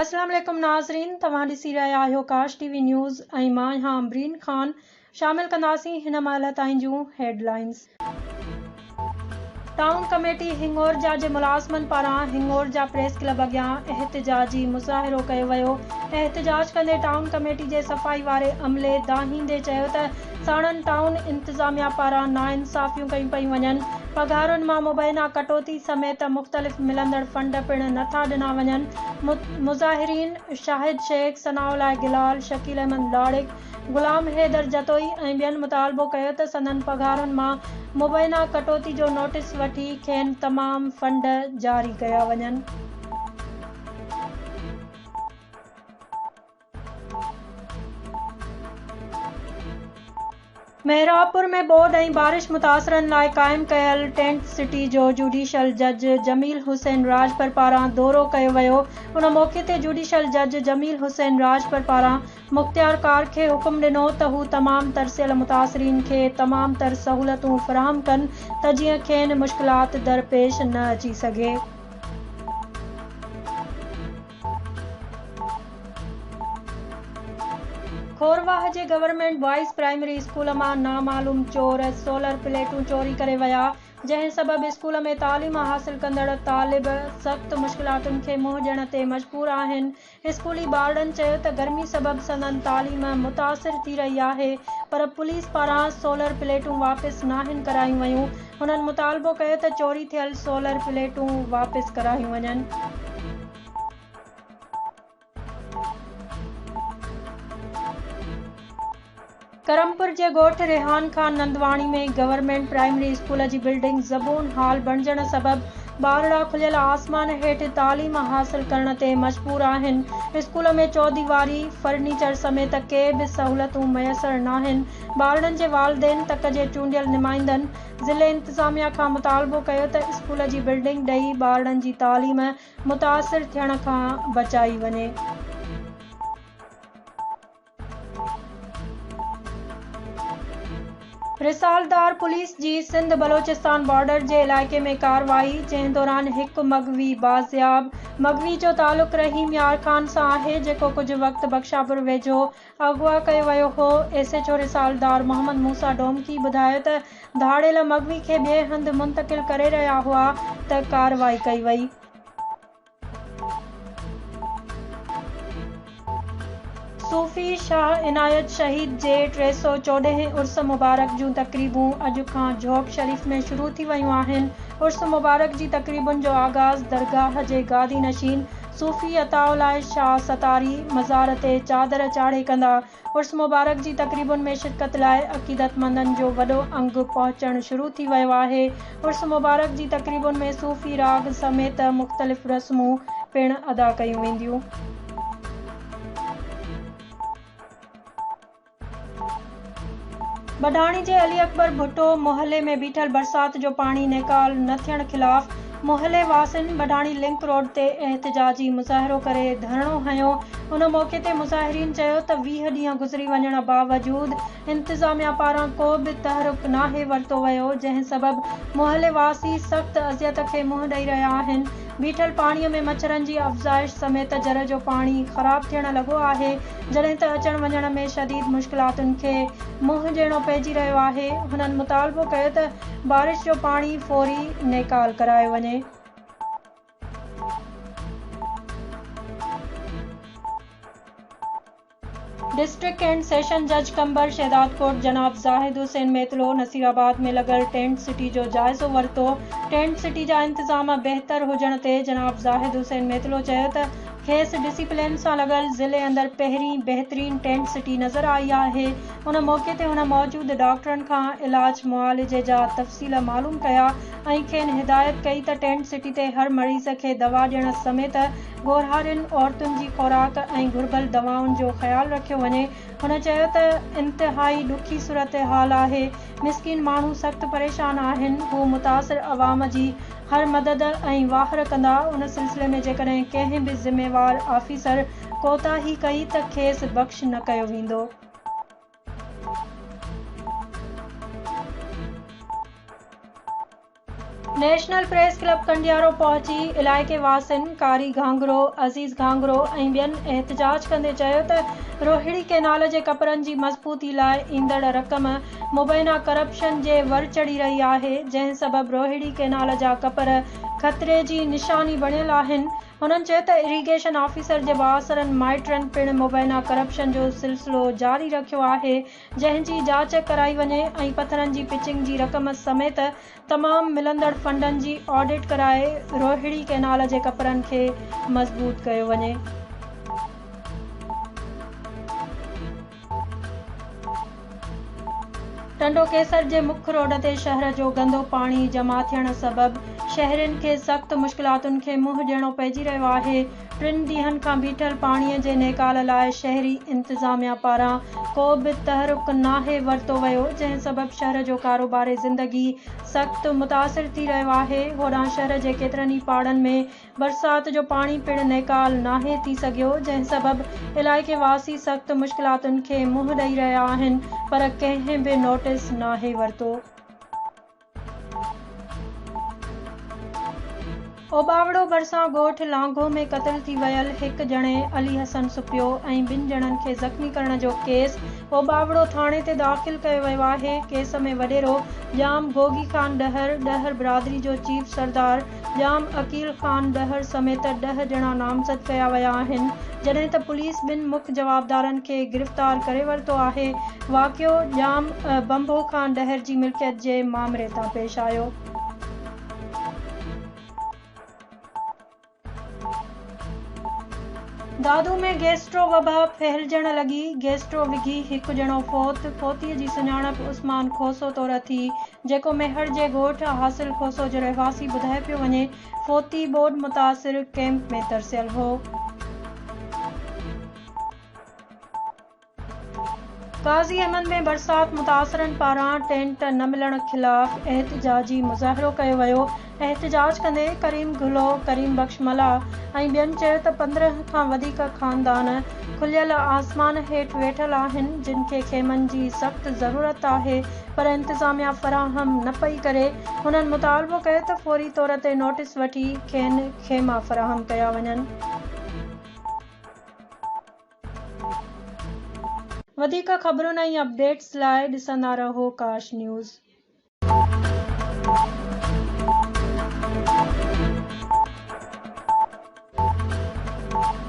السلام عليڪم ناظرين توهان ڏسي رهيا آهيو ڪاش ٽي وي نيوز ۽ مان آهيان عمبرين خان شامل ڪنداسين هن مهل تائين جون headlines. Town committee Hingorja جي ملازمن پاران هنڱورجا پريس ڪلب اڳيان احتجاجي مظاهرو ڪيو ويو احتجاج ڪندي ٽائون ڪميٽي جي صفائي واري عملي دانهيندي چيو ته ساڻن ٽائون انتظاميا پاران ناانصافيون ڪيون پيون وڃن، پگهارن مان مبينا ڪٽوتي سميت مختلف ملندڙ فنڊ پڻ نه ٿا ڏنا وڃن، مظاهرين شاهد شيخ، ثناء الله گلال، شڪيل احمد لاڙڪ، غلام حيدر جتوئي ۽ ٻين مطالبو ڪيو ته سندن پگهارن مان مبينا ڪٽوتي جو نوٽيس وٺي کين تمام فنڊ جاري ڪيا وڃن. محرابپور ۾ ٻوڏ ۽ بارش متاثرن لاء قائم ڪيل ٽينٽ سٽي جو جوڊيشل جج جميل حسين راڄپر پاران دورو ڪيو ويو ان موقعي تي جوڊيشل جج جميل حسين راڄپر پاران مختيار ڪار کي حڪم ڏنو ته هو تمام ترسيل متاثرين کي تمام تر سهولتون فراهم ڪن ته جيئن کين مشڪلات درپيش نه اچي سگهي. کورواهه جي گورنمينٽ بوائز پرائمري اسڪول مان نامعلوم چور سولر پليٽون چوري ڪري ويا، جنهن سبب اسڪول ۾ تعليم حاصل ڪندڙ طالب سخت مشڪلاتن کي منهن ڏيڻ تي مجبور آهن. اسڪولي ٻارڙن چيو ته گرمي سبب سندن تعليم متاثر ٿي رهي آهي پر پوليس پاران سولر پليٽون واپس ناهن ڪرايون ويون، هنن مطالبو ڪيو ته چوري ٿيل سولر پليٽون واپس ڪرايون وڃن. ڪرمپور جي ڳوٺ Rehan Khan Nandwani ۾ government primary school جي بلڊنگ زبون حال بڻجڻ سبب ٻارڙا کليل آسمان هيٺ تعليم حاصل ڪرڻ تي مجبور آهن، اسڪول ۾ چوديواري، فرنيچر سميت ڪي به سهولتون ميسر ناهن، ٻارڙن جي والدين تڪ جي چونڊيل نمائندن ضلعي انتظاميا کان مطالبو ڪيو ته اسڪول جي بلڊنگ ڊهي ٻارڙن جي تعليم متاثر ٿيڻ کان بچائي وڃي. رسالدار پوليس جي سنڌ بلوچستان بارڊر جي علائقي ۾ ڪارروائي جنهن دوران هڪ مغوي بازياب مغوي جو تعلق رحيم يار خان سان آهي جيڪو ڪجهه وقت بخشاپور ويجهو اغوا ڪيو ويو هو. ايس ايڇ او رسالتدار محمد موسيٰ ڊومڪي ٻڌايو ته ڌاڙيل مغوي کي ٻئي هنڌ منتقل ڪري رهيا هئا ته ڪارروائي ڪئي وئي. صوفي شاهه عنايت شهيد جي ٽي سؤ چوڏهين عرس مبارڪ جون تقريبون اڄ کان جهوڪ شريف ۾ شروع ٿي ويون آهن. عرس مبارڪ جي تقريبن جو آغاز درگاهه جي گادي نشين صوفي عطاء الله شاهه ستاري مزار تي چادر چاڙهي ڪندا عرس مبارڪ جي تقريبن ۾ شرڪت لاء عقيدتمندن جو وڏو انگ پهچڻ شروع ٿي ويو آهي عرس مبارڪ جي تقريبن ۾ صوفي راڳ سميت مختلف رسمون پڻ ادا ڪيون وينديون. ٻڍاڻي جي علي اڪبر ڀٽو محلي ۾ بيٺل برسات جو پاڻي نيڪال نه ٿيڻ خلاف محلي واسين ٻڍاڻي لنڪ روڊ تي احتجاجي مظاهرو ڪري ڌرڻو هنيو ان موقعي تي مظاهرين چيو ته ويهه ڏينهن گذري وڃڻ باوجود انتظاميا پاران ڪو به تحرڪ ناهي ورتو ويو جنهن سبب محلي واسي سخت اذيت کي منهن ڏئي رهيا آهن بيٺل پاڻي ۾ مڇرن جي افزائش سميت جر جو پاڻي خراب ٿيڻ لڳو آهي جڏهن ته اچڻ وڃڻ ۾ شديد مشڪلاتن کي منهن ڏيڻو پئجي رهيو آهي، هنن مطالبو ڪيو ته بارش جو پاڻي فوري نيڪال ڪرايو وڃي. ڊسٽرڪٽ اينڊ سيشن جج قمبر شهدادڪوٽ جناب زاهد حسين ميتلو نصير آباد ۾ لڳل ٽينٽ سٽي جو جائزو ورتو، ٽينٽ سٽي جا انتظام بهتر هجڻ تي جناب زاهد حسين ميتلو چيو ته کيس ڊسيپلين سان لڳل ضلعي اندر پهرين بهترين ٽينٽ سٽي نظر آئي آهي. ان موقعي تي هن موجود ڊاڪٽرن کان علاج معالجي جا تفصيل معلوم ڪيا ۽ کين هدايت ڪئي ته ٽينٽ سٽي تي هر مريض کي دوا ڏيڻ سميت ڳورهارين عورتن جي خوراڪ ۽ گهربل دوائن جو خيال رکيو وڃي. هن چيو ته انتهائي ڏکي صورتحال آهي. مسڪين ماڻهو سخت پريشان آهن، هو متاثر عوام جي هر مدد ۽ واهر ڪندا، ان سلسلي ۾ جيڪڏهن ڪنهن به ذميوار آفيسر ڪوتاهي ڪئي ته کيس بخش نه ڪيو ويندو. نيشنل پريس ڪلب ڪنڊيارو پهچي علائقي واسين قاري گهانگرو، عزيز گهانگرو ۽ ٻين احتجاج ڪندي چيو ته روهڙي ڪئنال جي ڪپرن جي مضبوطي لاء ايندڙ رقم مبينا ڪرپشن جي ور چڙهي رهي آهي جنهن سبب روهڙي ڪئنال جا ڪپر خطري جي نشاني بڻيل آهن هنن چيو ته اريگيشن آفيسر جي بااثرن مائٽرن پڻ مبينا ڪرپشن جو سلسلو جاري رکيو آهي جنهن جي جاچ ڪرائي وڃي ۽ پٿرن جي پچنگ جي رقم سميت تمام ملندڙ فنڊن جي آڊٽ ڪرائي روهڙي ڪئنال جي ڪپرن کي مضبوط ڪيو وڃي. ٽنڊو ڪيسر جي مک روڊ تي شهر جو گندو پاڻي جمع ٿيڻ سبب شهرين کي سخت مشڪلاتن کي منهن ڏيڻو پئجي رهيو آهي، ٽن ڏينهن کان بيٺل پاڻي جي نيڪال لاء شهري انتظاميا پاران ڪو به تحرڪ ناهي ورتو ويو جنهن سبب شهر جو ڪاروباري زندگي سخت متاثر ٿي رهيو آهي هوڏانهن شهر جي ڪيترن ئي پاڙن ۾ برسات جو پاڻي پڻ نيڪال ناهي ٿي سگهيو جنهن سبب علائقي واسي سخت مشڪلاتن کي منهن ڏئي رهيا آهن پر ڪنهن به نوٽس ناهي ورتو. اوٻاوڙو ڀرسان ڳوٺ لانگهو ۾ قتل ٿي ويل هڪ ڄڻي علي حسن سپيو ۽ ٻن ڄڻن کي زخمي ڪرڻ جو ڪيس اوٻاوڙو ٿاڻي تي داخل ڪيو ويو آهي ڪيس ۾ وڏيرو ڄام گوگي خان ڏهر ڏهر برادري جو چيف سردار ڄام عقيل خان ڏهر سميت ڏهه ڄڻا نامزد ڪيا ويا آهن، جڏهن ته پوليس ٻن مک جوابدارن کي گرفتار ڪري ورتو آهي. واقعو ڄام بنڀو خان ڏهر جي ملڪيت جي مامري تان پيش آيو. دادو ۾ گيسٽرو وبا ڦهلجڻ لڳي، گيسٽرو وگهي هڪ ڄڻو فوت، فوتيء جي سڃاڻپ عثمان کوسو طور اٿي، جيڪو ميهڙ جي ڳوٺ حاصل کوسو جو رهواسي ٻڌايو پيو وڃي، فوتي ٻوڏ متاثر ڪئمپ ۾ ترسيل هو. قاضي احمد ۾ برسات متاثرن پاران ٽينٽ نه ملڻ خلاف احتجاجي مظاهرو ڪيو ويو، احتجاج ڪندي ڪريم گهلو، ڪريم بخش ملاح ۽ ٻين چيو ته پندرهن کان وڌيڪ خاندان کليل آسمان هيٺ ويٺل آهن جن کي خيمن جي سخت ضرورت آهي پر انتظاميا فراهم نه پئي ڪري، هنن مطالبو ڪيو ته فوري طور تي نوٽيس وٺي کين خيما فراهم ڪيا وڃن. وڌيڪ خبرن ۽ اپڊيٽس لاء ڏسندا رهو ڪاش نيوز.